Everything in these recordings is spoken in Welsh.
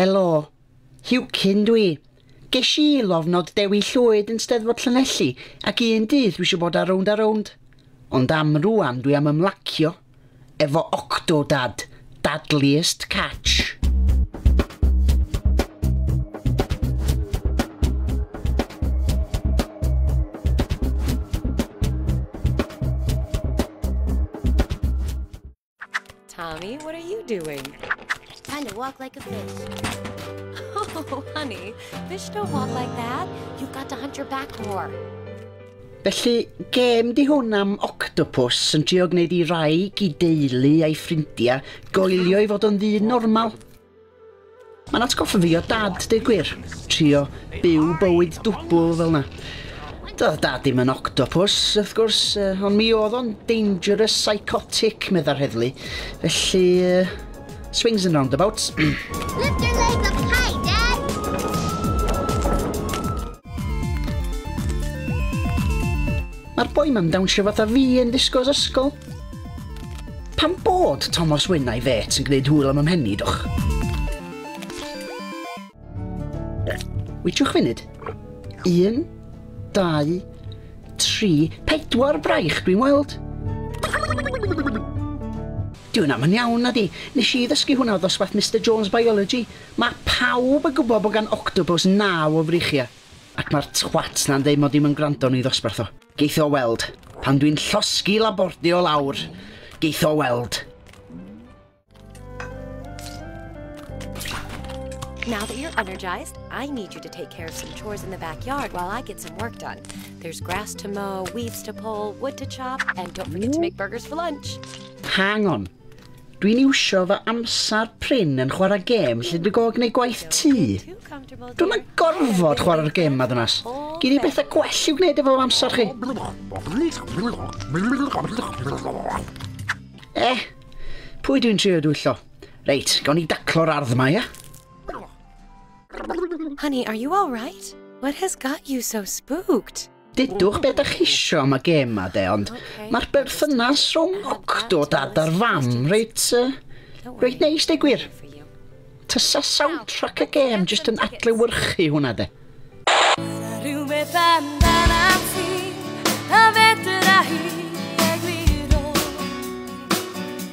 Helo. Hugh Cyn dw i. Gesh i lofnod Dewi Llwyd yn Steddfod Llanelli ac un dydd dwi isio bod ar rownd a rownd. Ond am rŵan dwi am ymlacio efo Octodad, Dadliest Catch. Tommy, what are you doing? Trying to walk like a fish. Oh, honey, fish don't walk like that. You've got to hunt your back more. Felly, gêm di hwn am octopus yn trio gwneud i rai i deulu a'i ffrindiau goelio i fod o'n ddyn normal. Mae'n atgoffa fi o dad, deu gwir. Trio byw bywyd dwbl fel na. Doedd dad ddim yn octopus, wrth gwrs, uh, ond mi oedd o'n dangerous psychotic, meddai'r heddlu. Felly, uh, swings and roundabouts. Lift your legs up high, Dad! Mae'r boi ma'n dawnsio fatha fi yn disgos ysgol. Pam bod Tomos Wyn a'i fêt yn gwneud hwyl am y mhen dwch? Wytiwch funud. Un, dau, tri, pedwar braich dwi'n weld. Dwi'n am yn iawn, na di. Nes i ddysgu hwnna o ddosbarth Mister Jones Biology. Mae pawb yn gwybod bod gan octopus naw o frichiau. Ac mae'r twat 'na'n deud mod i'm yn gwrando yn ei ddosbarth o. Geith o weld. Pan dwi'n llosgi Laborde o lawr, geith o weld. Now that you're energized, I need you to take care of some chores in the backyard while I get some work done. There's grass to mow, weeds to pull, wood to chop, and don't forget to make burgers for lunch. Hang on. Dwi'n iwsio fy amser prin yn chwarae gêm lle dwi go gneud gwaith tŷ. Dwi'm yn gorfod chwarae'r gêm ma ddynas. Gin i bethau gwell i'w gwneud efo amser chi. Eh, pwy dwi'n trio dwyllo? Reit, gawn ni daclo'r ardd ma, ia? Honey, are you all right? What has got you so spooked? Dydwch be da chisio am y gem ma de, ond mae'r berthynas rhwng Octo dad a'r fam reit, uh, reit neis de gwir. Tysa soundtrack y gem jyst yn adlewyrchu hwnna de. Rhywbeth amdana ti, a fedra hi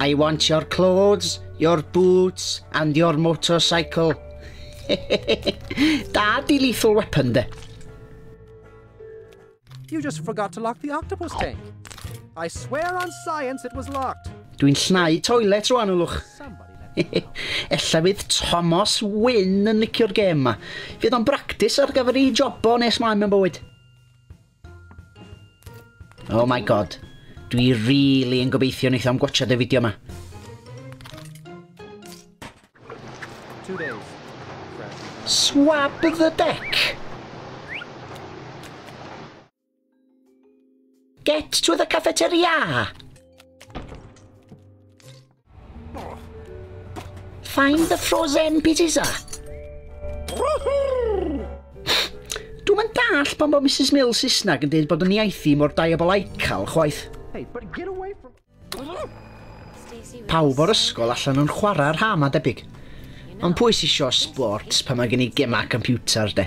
I want your clothes, your boots and your motorcycle. da di lethal weapon de. You just forgot to lock the octopus tank. I swear on science it was locked. Dwi'n llnau toilet rwan, ylwch. Ella fydd Thomas Wynn yn licio'r gêm yma. Fydd o'n bractis ar gyfer ei jobo nes mlaen mewn bywyd. Oh my god. Dwi really yn gobeithio wneith am gwachad y fideo yma. Swab the deck! Get to the cafeteria! Find the frozen pizzas a. Dwi'n mynd dall pan bod Mrs Mills Saesnag yn dweud bod yn iaith i mor diabolical chwaith. Hey, but get away from... Pawb o'r ysgol allan yn chwarae rha ma debyg. Ond pwy sy'n sio sports pan mae gen i gemau computer de?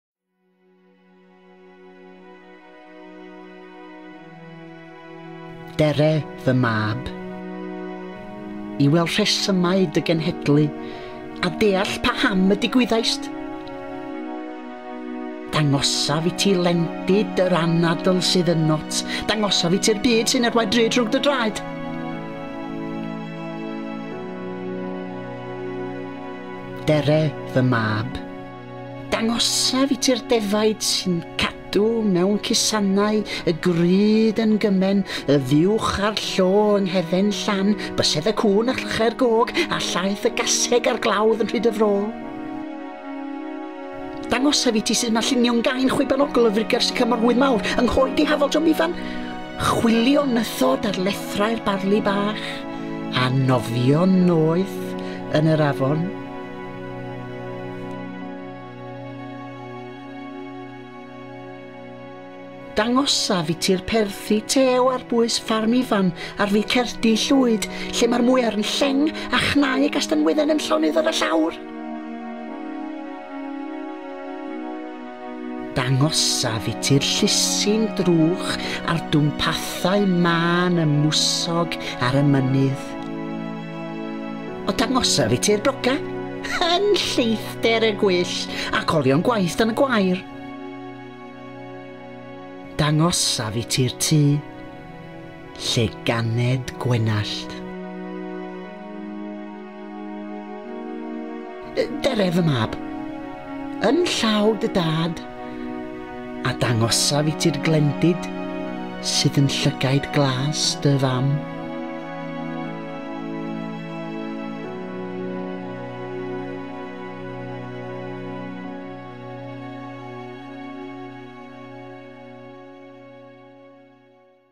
Dere fy mab. I weld rhesymau dy genhedlu a deall pa ham y digwyddaist. Dangosaf i ti lendid yr anadl sydd yn not. Dangosaf i ti'r byd sy'n erwaid drud rhwng dy draed. Dere fy mab. Dangosaf i ti'r defaid sy'n cadw mewn cusannau y grud yn gymen y fuwch a'r llo yng nghefen llan bysedd y cŵn a llychau'r gog a llaeth y gaseg a'r glawdd yn rhyd y fro. Dangosaf i ti sydd mae lluniw'n gain chwibanogl y frigau'r sycamor hwydd mawr yng nghoed dihafol John Ifan, chwilio nythod ar lethrau'r barli bach, a nofio noeth yn yr afon. Dangosaf i ti'r perthi tew ar bwys ffarm Ifan ar fyd Cerdi Llwyd, lle mae'r mwyar yn lleng a chnau gastanwydden yn llonydd ar y llawr. Dangosaf i ti'r llusyn drwch a'r dwmpathau mân y mwsog ar y mynydd. O dangosaf i ti'r bloca, yn lleithder y gwyll ac olion gwaith yn y gwair. Dangosaf i ti'r tŷ, Lle ganed gwenallt. Dere fy mab. Yn llaw dy dad. A dangosaf i ti'r glendid sydd yn llygaid glas dy fam.